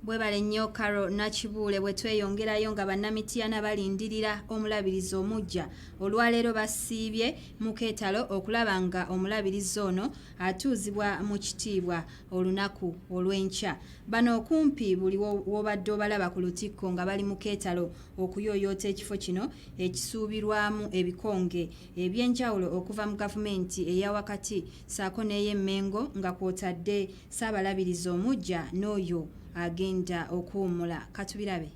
Bwebale nnyo Carol Nakibuule bwe tweyongerayo nga Bannamityana balindirira omulabirizi omuggya olwaleero basiibye mu keetalo okulaba nga omulabirizi ono atuuzibwa mu kitiibwa olunaku olw'enkya. Bano okumpi buli w'obadde obalaba ku lutikko nga bali mu keetalo okuyooyoota ekifo kino ekisuubirwamu ebikonge eby'enjawulo okuva mu gavumenti eya wakati ssaako n'ey'e Mmengo nga kwotadde Ssaabalabirizi omuggya n'oyo agenda okuwummula katubirabe.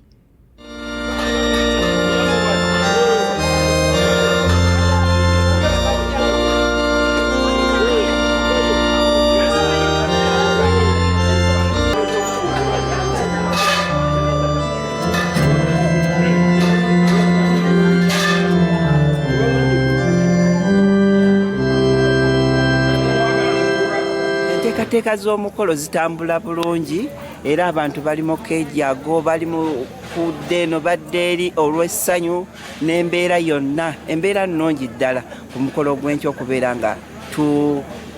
enteekateeka z'omukolo zitambula bulungi era abantu bali mu kejago bali mu kudda eno badde eri olw'essanyu n'embeera yonna embeera nnungi ddala ku mukolo gw'enkya okubeera nga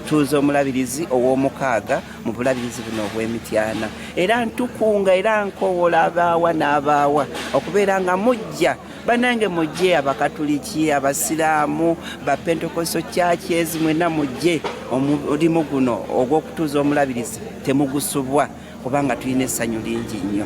tuuza omulabirizi ow'omukaaga mu bulabirizi buno obw'emityana era ntukunga era nkoowola abaawa n'abaawa okubeera nga mujja banange mujje abakatuliki abasiraamu bapentekoso kyaki ezi mwena mujje omulimu guno ogw'okutuuza omulabirizi temugusubwa kubanga tulina essanyu lingi nnyo